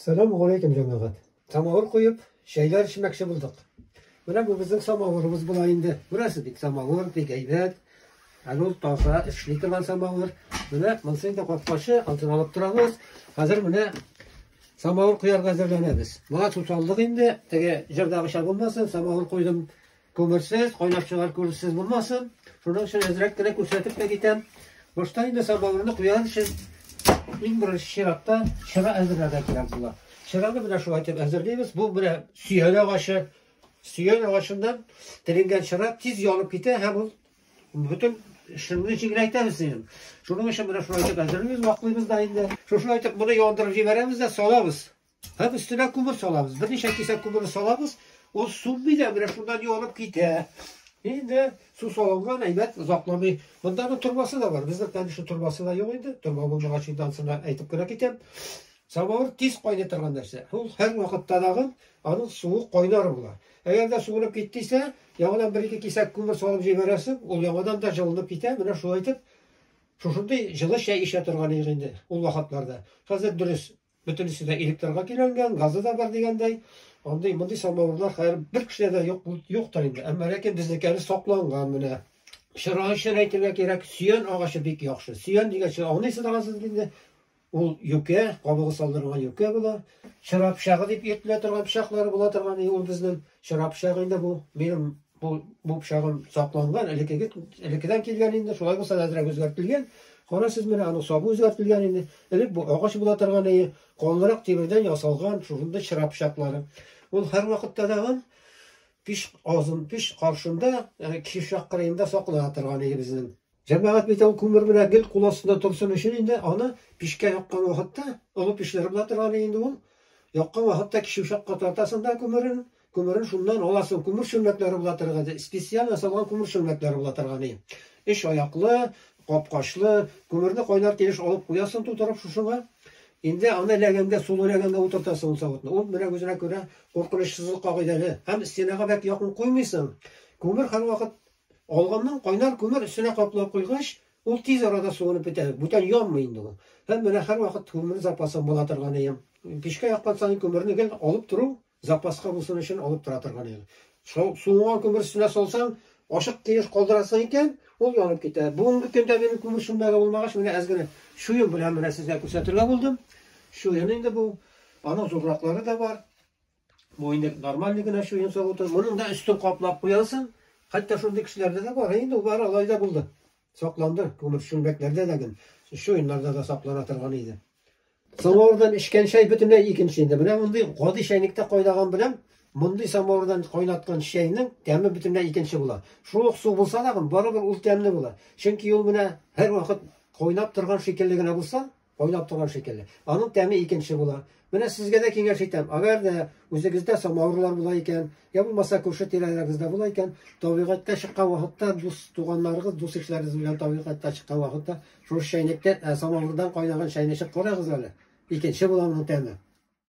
Сәлам галейкем җәмәгать. Самавыр куеп, чәйләр эчмәкче булдык. Менә бу безнең самавырыбыз була инде. Күрәсез бит, самавыр бик әйбәт. Әле ул таза, эшли торган самавыр. Менә монысы инде капкачы, алтын алып торабыз. Хәзер менә самавыр куярга әзерләнәбез. Моңа су салдык инде, теге җырдагыча булмасын, самавыр куйдым. Күмерсез, кайнап чыгар күрсез булмасын. Шуның өчен әзрәк кенә күрсәтеп тә китәм. Башта инде самавырны куяр өчен иң беренче чиратта чыра әзерләргә кирәк була. Чыраны менә шулай итеп әзерлибез. Бу менә сөян агачы. Сөян агачыннан теленгән чыра тиз янып китә һәм ул бөтен шыңны җиңеләйтәбез дигән. Шуның өчен менә шулай итеп әзерлибез, ваклыйбыз да инде. Шушылай итеп моны яндырып җибәрәбез дә салабыз. Һәм өстенә күмер салабыз. Берничә кисәк күмер салабыз. Ул сүнми дә, менә шуннан юанып китә. Инде су салынган әйбәт озакламый. Монда да торбасы да бар. Безнең танышы торбасы да юк инде. Торба булмагач инде ансына әйтеп кенә китәм. Самавыр тиз кайный торган нәрсә. Ул һәр вакытта дагы аның суы кайнар була. Әгәр дә суынып киттисә, яңадан бер-ике кисәк күмер салып җибәрәсең, ул яңадан да җылынып китә. Менә шулай итеп Шушындый җылы чәй эчә торган идек инде ул вакытларда. Хәзер дөрес, Бөтенесе дә электрга көйләнгән, газы да бар дигәндәй. Андый мондый самавырлар хәер бер кешедә дә юк юктыр инде. Әмма ләкин безнеке әле сакланган менә. Чырай өчен әйтергә кирәк, сөян агачы бик яхшы. Сөян дигәнче аңлыйсыз аңсыз инде. Ул юкә, кабыгы салдырылган юкә була. Чыра пычагы дип йөртелә торган пычаклары була торган, ул безнең чыра пычагы инде бу. Минем Бу бу пычагым сакланган, элекеге элекедән килгән инде, шулай булса да әзрәк үзгәртелгән. Карасыз менә аның сабы үзгәртелгән инде. Элек бу агач була торган иде, калынрак тимердән ясалган шушындый чыра пычаклары. Ул һәрвакытта да ул пич азын, пич каршында, кишер кырыенда саклана торган иде безнең. Җәмәгать бит ул күмер менә гел кул астында торсын өчен инде аны пичкә яккан вакытта, олы печләр була торган ди инде ул, яккан вакытта кече учакка тартасың да күмерен, күмерен шуннан аласың, күмер чүлмәкләре була торган ди, специаль ясалган күмер чүлмәкләре була торган ди. Өч аяклы, капкачлы, күмерне кайнар килеш алып куясың тутырып шушыңа, инде аны ләгәнгә, сулы ләгәнгә утыртасың ул савытны, ул менә үзенә күрә куркынычсызлык кагыйдәле һәм стенага бәк якын куймыйсың, күмер һәрвакыт Алганнан кайнар күмер өстенә каплап куйгач, ул тиз арада суынып бетә, бүтән янмый инде ул. Һәм менә һәрвакыт күмер запасын була торган өем. Пичкә яккан саен күмерне гел алып тору, запаска булсын өчен алып тора торган өем. Шул суынган күмер өстенә салсаң, ачык килеш калдырасың икән, ул янып китә. Бүгенге көндә минем күмер сүнмәге булмагач, менә әз генә чуен белән менә сезгә күрсәтергә булдым. Чуен инде бу. Аның зурраклары да бар. Бу инде нормальный генә чуен саву тор. Моның да өстен каплап куясың. Хәтта шундый кешеләрдә дә бар. Инде бар алай да булды. Сакланды. Күмер чүлмәкләрдә дә гел, чуеннарда да саклана торган иде. Самавырдан эчкән чәй бөтенләй икенче инде. Менә мондый гади чәйнектә кайнаган белән мондый самавырдан кайнаткан чәйнең тәме бөтенләй икенче була. Шул ук су булса да, барыбер ул тәмле була. Чөнки ул менә һәрвакыт кайнап торган шикелле генә булса, Кайнап торган шикелле. Аның тәме икенче була. Менә сезгә дә киңәш итәм. Әгәр дә үзегездә самавырлар була икән, я булмаса күрше тирәләрегездә була икән, табигатькә чыккан вакытта дус туганнарыгыз, дус ишләрегез белән табигатькә чыккан вакытта шушы чәйнектән ә, самавырдан кайнаган чәйне эчеп карагыз әле. Икенче була моның тәме.